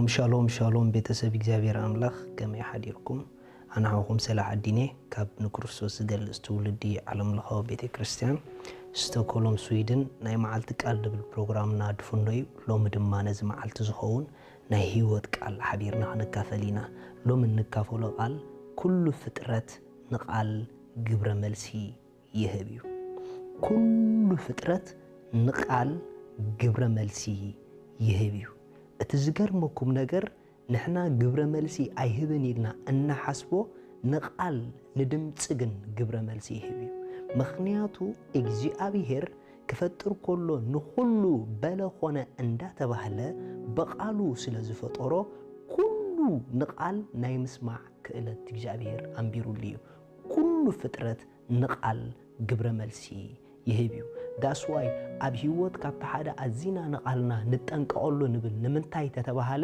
ሻሎም ሻሎም ሻሎም ቤተሰብ እግዚኣብሔር ኣምላኽ ከመይ ሓዲርኩም ኣንሃኹም ሰለ ዓዲኔ ካብ ንክርስቶስ ዝገልጽ ትውልዲ ዓለምለኻዊ ቤተ ክርስቲያን ስቶኮሎም ስዊድን ናይ መዓልቲ ቃል ድብል ፕሮግራምና ድፍኖ እዩ ሎሚ ድማ ነዚ መዓልቲ ዝኸውን ናይ ህይወት ቃል ሓቢርና ክንካፈል ኢና ሎሚ እንካፈሎ ቃል ኩሉ ፍጥረት ንቃል ግብረ መልሲ ይህብ እዩ ኩሉ ፍጥረት ንቃል ግብረ መልሲ ይህብ እዩ እቲ ዝገርመኩም ነገር ንሕና ግብረ መልሲ ኣይህብን ኢልና እንሓስቦ ንቓል ንድምጺ ግን ግብረ መልሲ ይህብ እዩ ምኽንያቱ እግዚኣብሄር ክፈጥር ኮሎ ንኹሉ በለ ኾነ እንዳተባህለ ብቓሉ ስለ ዝፈጠሮ ኩሉ ንቓል ናይ ምስማዕ ክእለት እግዚኣብሄር ኣንቢሩሉ እዩ ኩሉ ፍጥረት ንቓል ግብረ መልሲ ይህብ እዩ ዳስ ዋይ ኣብ ሂወት ካብቲ ሓደ ኣዚና ንቓልና ንጠንቀቐሉ ንብል ንምንታይ ተተባሃለ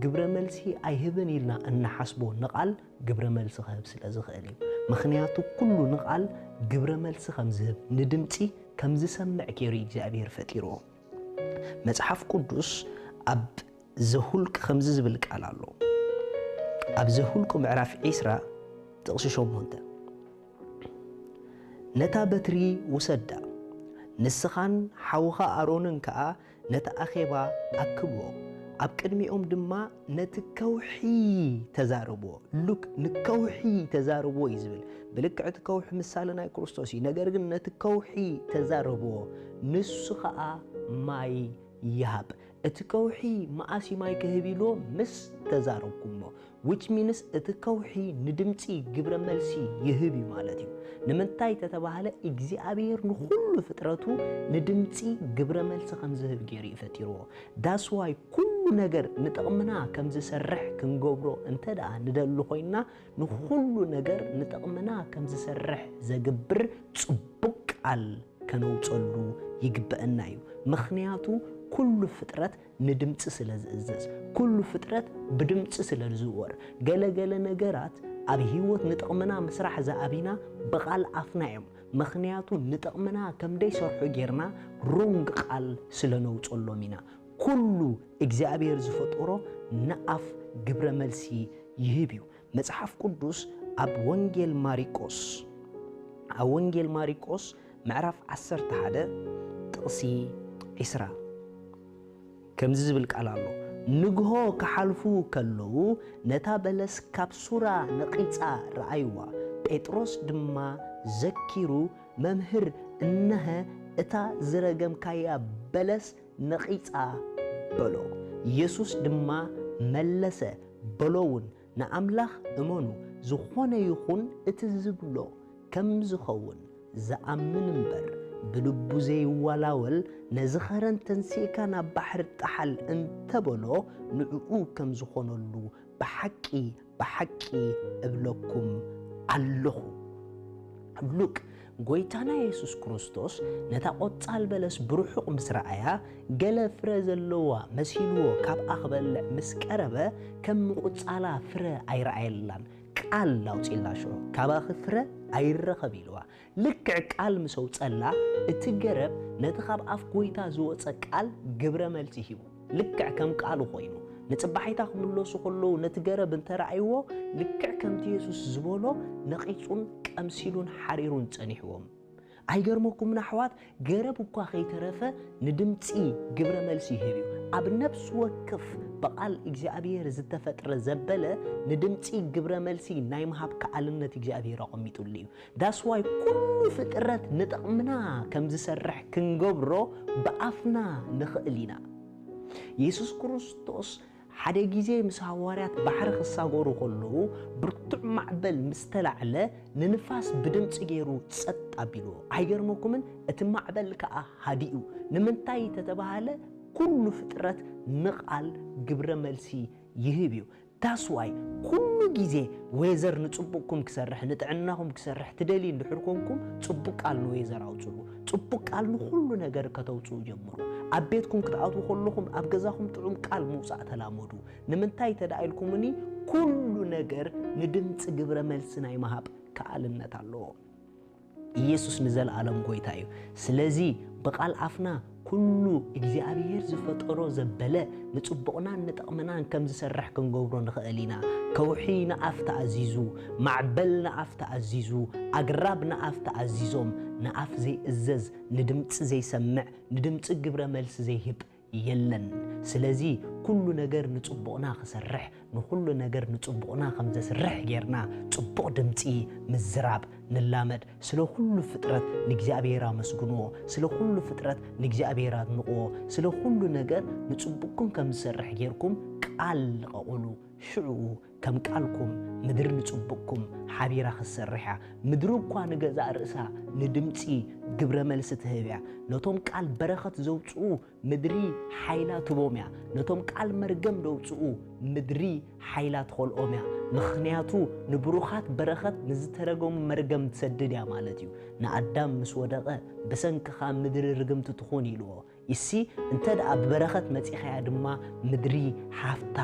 ግብረ መልሲ ኣይህብን ኢልና እንሓስቦ ንቓል ግብረ መልሲ ክህብ ስለ ዝኽእል እዩ ምኽንያቱ ኩሉ ንቓል ግብረ መልሲ ከም ዝህብ ንድምጺ ከም ዝሰምዕ ጌሩ እግዚኣብሔር ፈጢርዎ መጽሓፍ ቅዱስ ኣብ ዘሁልቅ ከምዚ ዝብል ቃል ኣሎ ኣብ ዘሁልቁ ምዕራፍ ዒስራ ጥቕሲ ሸሞንተ፣ ነታ በትሪ ውሰዳ፣ ንስኻን ሓውኻ ኣሮንን ከኣ ነቲ ኣኼባ ኣክብዎ፣ ኣብ ቅድሚኦም ድማ ነቲ ከውሒ ተዛረብዎ። ሉክ ንከውሒ ተዛረብዎ እዩ ዝብል። ብልክዕ እቲ ከውሒ ምሳሌ ናይ ክርስቶስ እዩ። ነገር ግን ነቲ ከውሒ ተዛረብዎ፣ ንሱ ኸኣ ማይ ይሃብ። እቲ ከውሒ መኣስ እዩ ማይ ክህብ ኢሉ ምስ ተዛረብኩሞ which means እቲ ከውሒ ንድምጺ ግብረ መልሲ ይህብ እዩ ማለት እዩ። ንምንታይ ተተባህለ እግዚኣብሔር ንኹሉ ፍጥረቱ ንድምጺ ግብረ መልሲ ከም ዝህብ ገይሩ እዩ ፈጢርዎ። That's why ኩሉ ነገር ንጥቕምና ከም ዝሰርሕ ክንገብሮ እንተደኣ ንደሊ ኮይንና ንኹሉ ነገር ንጥቕምና ከም ዝሰርሕ ዘግብር ጽቡቕ ቃል ከነውጸሉ ይግበእና እዩ። ምኽንያቱ ኩሉ ፍጥረት ንድምጺ ስለ ዝእዘዝ፣ ኩሉ ፍጥረት ብድምጺ ስለ ዝዝወር። ገለ ገለ ነገራት ኣብ ህይወት ንጥቕምና ምስራሕ ዝኣብይና ብቓል ኣፍና እዮም። ምኽንያቱ ንጥቕምና ከም ደይሰርሑ ጌርና ሮንግ ቃል ስለ ነውጸሎም ኢና። ኩሉ እግዚኣብሔር ዝፈጠሮ ንኣፍ ግብረ መልሲ ይህብ እዩ። መጽሓፍ ቅዱስ ኣብ ወንጌል ማሪቆስ ኣብ ወንጌል ማሪቆስ ምዕራፍ ዓሰርተ ሓደ ጥቕሲ ዒስራ ከምዚ ዝብል ቃል ኣሎ ንግሆ ክሓልፉ ከለዉ ነታ በለስ ካብ ሱራ ነቒጻ ረኣይዋ ጴጥሮስ ድማ ዘኪሩ መምህር እነሀ እታ ዝረገምካያ በለስ ነቒጻ በሎ። የሱስ ድማ መለሰ በሎውን፣ ንኣምላኽ እመኑ፣ ዝኾነ ይኹን እቲ ዝብሎ ከም ዝኸውን ዝኣምን እምበር፣ ብልቡ ዘይዋላወል፣ ነዚ ኸረን ተንሲእካ ናብ ባሕሪ ጥሓል እንተ በሎ፣ ንእኡ ከም ዝኾነሉ ብሓቂ ብሓቂ እብለኩም ኣሎኹ፣ ሉቅ ጐይታና የሱስ ክርስቶስ ነታ ቈጻል በለስ ብርሑቕ ምስ ረኣያ፣ ገለ ፍረ ዘለዋ መሲልዎ ካብኣ ክበልዕ ምስ ቀረበ፣ ከም ምቝጻላ ፍረ ኣይረኣየላን፣ ቃል ኣውጺኡላ ሽዑ፣ ካባኺ ፍረ ኣይረኸብ ኢልዋ። ልክዕ ቃል ምስ ኣውጸላ፣ እቲ ገረብ ነቲ ኻብ ኣፍ ጐይታ ዝወጸ ቃል ግብረ መልሲ ሂቡ። ልክዕ ከም ቃሉ ዀይኑ። ንጽባሒታ ኺምለሱ ኸለዉ ነቲ ገረብ እንተ ረኣይዎ፣ ልክዕ ከምቲ የሱስ ዝበሎ ነቒጹን ቀምሲሉን ሓሪሩን ጸኒሕዎም። ኣይገርመኩምን ኣሕዋት፣ ገረብ እኳ ኸይተረፈ ንድምጺ ግብረ መልሲ ይህብ እዩ። ኣብ ነፍሲ ወክፍ ብቓል እግዚኣብሄር ዝተፈጥረ ዘበለ ንድምጺ ግብረ መልሲ ናይ ምሃብ ከኣልነት እግዚኣብሄር ኣቐሚጡሉ እዩ። That's why ኩሉ ፍጥረት ንጥቕምና ከም ዝሰርሕ ክንገብሮ ብኣፍና ንኽእል ኢና። የሱስ ክርስቶስ ሓደ ግዜ ምስ ሃዋርያት ባሕሪ ክሳገሩ ከለዉ ብርቱዕ ማዕበል ምስ ተላዕለ ንንፋስ ብድምጺ ገይሩ ጸጥ ኣቢልዎ። ኣይገርመኩምን? እቲ ማዕበል ከኣ ሃዲኡ። ንምንታይ ተተባህለ ኩሉ ፍጥረት ንቓል ግብረ መልሲ ይህብ እዩ። That's why ኩሉ ግዜ ዌዘር ንጽቡቕኩም ክሰርሕ ንጥዕናኹም ክሰርሕ ትደልዩ እንድሕር ኮንኩም ጽቡቕ ቃል ንዌዘር ኣውጽሉ። ጽቡቕ ቃል ንኹሉ ነገር ከተውጽኡ ጀምሩ። ኣብ ቤትኩም ክትኣትዉ ከለኹም ኣብ ገዛኹም ጥዑም ቃል ምውጻእ ተላመዱ። ንምንታይ እንተድኣ ኢልኩምኒ ኩሉ ነገር ንድምጺ ግብረ መልሲ ናይ ምሃብ ክኣልነት ኣለዎ። ኢየሱስ ንዘልኣለም ጎይታ እዩ ስለዚ ብቃል ኣፍና ኩሉ እግዚኣብሔር ዝፈጠሮ ዘበለ ንጽቡቕናን ንጠቕምናን ከም ዝሰርሕ ክንገብሮ ንኽእል ኢና ከውሒ ንኣፍ ተኣዚዙ ማዕበል ንኣፍ ተኣዚዙ ኣግራብ ንኣፍ ተኣዚዞም ንኣፍ ዘይእዘዝ ንድምጺ ዘይሰምዕ ንድምጺ ግብረ መልሲ ዘይህብ የለን ስለዚ ኩሉ ነገር ንጽቡቕና ክሰርሕ ንኹሉ ነገር ንጽቡቕና ከም ዘስርሕ ጌርና ጽቡቕ ድምጺ ምዝራብ ንላመድ ስለ ኩሉ ፍጥረት ንእግዚኣብሔር ኣመስግንዎ ስለ ኩሉ ፍጥረት ንእግዚኣብሔር ኣድንቕዎ ስለ ኩሉ ነገር ንጽቡቕኩም ከም ዝሰርሕ ጌርኩም ቃል ልቐቑሉ ሽዑኡ ከም ቃልኩም ምድሪ ንጽቡቕኩም ሓቢራ ክትሰርሕ እያ። ምድሪ እኳ ንገዛእ ርእሳ ንድምጺ ግብረ መልሲ ትህብ እያ። ነቶም ቃል በረኸት ዘውጽኡ ምድሪ ሓይላ ትህቦም እያ። ነቶም ቃል መርገም ደውጽኡ ምድሪ ሓይላ ትኸልኦም እያ። ምኽንያቱ ንብሩኻት በረኸት ንዝተረገሙ መርገም ትሰድድ እያ ማለት እዩ። ንኣዳም ምስ ወደቐ ብሰንክኻ ምድሪ ርግምቲ ትኹን ኢልዎ። ኢሲ እንተ ደኣ ብበረኸት መጺኻያ ድማ ምድሪ ሃፍታ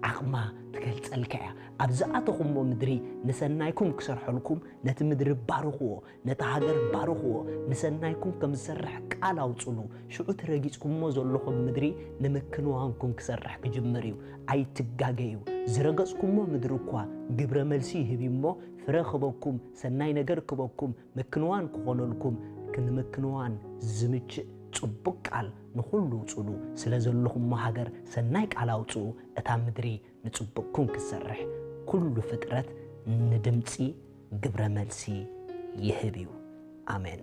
ዓቕማ ትገልጸልካ ኢያ። ኣብ ዝኣተኹሞ ምድሪ ንሰናይኩም ክሰርሐልኩም ነቲ ምድሪ ባርኽዎ፣ ነታ ሃገር ባርኽዎ፣ ንሰናይኩም ከም ዝሰርሕ ቃል ኣውጽሉ። ሽዑ እቲ ረጊጽኩሞ ዘሎኹም ምድሪ ንምክንዋንኩም ክሰርሕ ክጅምር ኢዩ። ኣይትጋገዩ። ዝረገጽኩሞ ምድሪ እኳ ግብረ መልሲ ይህብ ኢዩ እሞ ፍረ ክህበኩም፣ ሰናይ ነገር ክህበኩም፣ ምክንዋን ክኾነልኩም ክንምክንዋን ዝምችእ ጽቡቅ ቃል ንኹሉ ኣውጽሉ ስለ ዘለኹሞ ሃገር ሰናይ ቃል ኣውጽኡ እታ ምድሪ ንጽቡቅኩም ክትሰርሕ ኩሉ ፍጥረት ንድምጺ ግብረ መልሲ ይህብ እዩ ኣሜን።